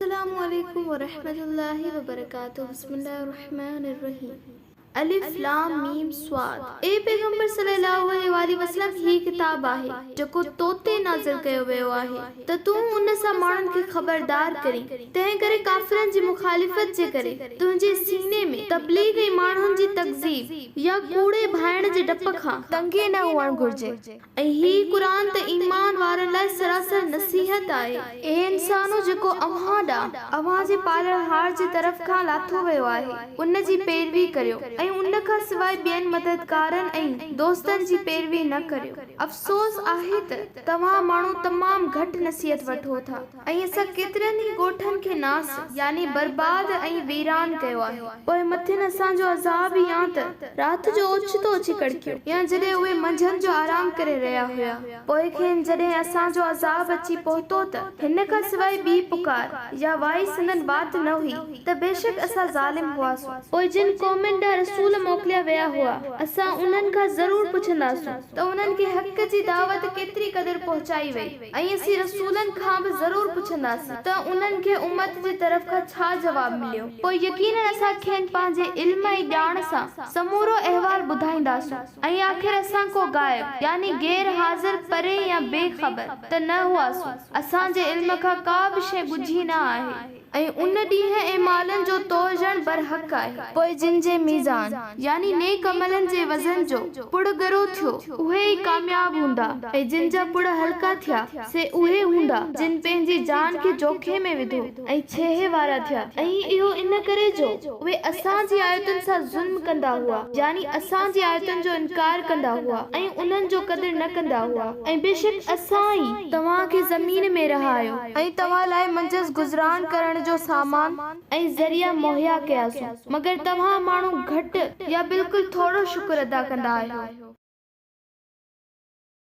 السلام عليڪم ورحمة الله وبرڪاته بسم الله الرحمٰن الرحيم الف لام ميم صاد اي پيغمبر صلي الله عليه واٰله وسلم هي ڪتاب آهي جيڪو تو تي نازل ڪيو ويو آهي ته تون ان سان ماڻهن کي خبردار ڪرين تنهن ڪري ڪافرن جي مخالفت جي ڪري تنهنجي سيني ۾ تبليغ ۽ ماڻهن جي تڪذيب يا ڪوڙي ڀائڻ جي ڊپ کان تنگي نه هئڻ گهرجي ۽ هي قرآن ته ايمان وارن لاء سراسر نصيحت آهي. اي انسانو! جيڪو اوهان ڏانهن، اوهان جي پالڻهار جي طرف کان، لاٿو ويو آهي، ان جي پيروي ڪريو، ۽ ان کان سواء ٻين مددگارن ۽ دوستن جي پيروي نه ڪريو. افسوس آهي ته توهان ماڻهو تمام گهٽ نصيحت وٺو ٿا. ۽ اسان ڪيترن ئي ڳوٺن کي ناس، يعني برباد ۽ ويران ڪيو آهي. پوء مٿين اسان جو عذاب يا ته رات جو اوچتو اچي ڪڙڪيو، يا جڏهن اهي منجهند جو آرام ڪري رهيا هيا، پوء کين جڏهن اسان جو عذاب اچي پهتو ته هن کان سواء ٻي پڪار يا وائي سندن وات نه هئي ته بيشڪ اسان ظالم هئاسون. پوء جن قومن ڏانهن رسول موڪليا ويا هئا، اسان انهن کان ضرور پڇنداسون ته انهن کي حق جي دعوت ڪيتري قدر پهچائي وئي. ۽ اسين رسولن کان به ضرور پڇنداسين ته انهن کي امت جي طرف کان ڇا جواب مليو، پوء يقيناً اسان کين پنهنجي علم ۽ ڄاڻ سان سمورو احوال ٻڌائينداسون ۽ آخر اسان ڪو غائب يعني غير حاضر، پري يا بي خبر ته نه هئاسون، اسان جي علم کان ڪا به شيء ڳجهي نه آهي. ۽ ان ڏينهن ۽ مالن جو تور ڄڻ برحق آهي. پوء جن جي ميزان، يعني نيڪ عملن جي وزن جو، پڙ ڳرو ٿيو، اهي ئي ڪامياب هوندا، ۽ جن جا پڙ هلڪا ٿيا، سي اهي هوندا، جن پنهنجي جان کي جوکي ۾ وڌو، ۽ ڇيهي وارا ٿيا. ۽ اهو ان ڪري جو اهي اسان جي آيتن سان ظلم ڪندا هئا، يعني اسان جي آيتن جو انڪار ڪندا هئا، ۽ انهن جو قدر نه ڪندا هئا، ۽ بيشڪ اسان ئي توهان کي زمين ۾ رهايو. ۽ توهان لاء منجهس گذران ڪرڻ جو سامان ۽ ذريعا مهيا ڪياسون، مگر توهان ماڻهو گهٽ يا بلڪل ٿورو شڪر ادا ڪندا آهيو.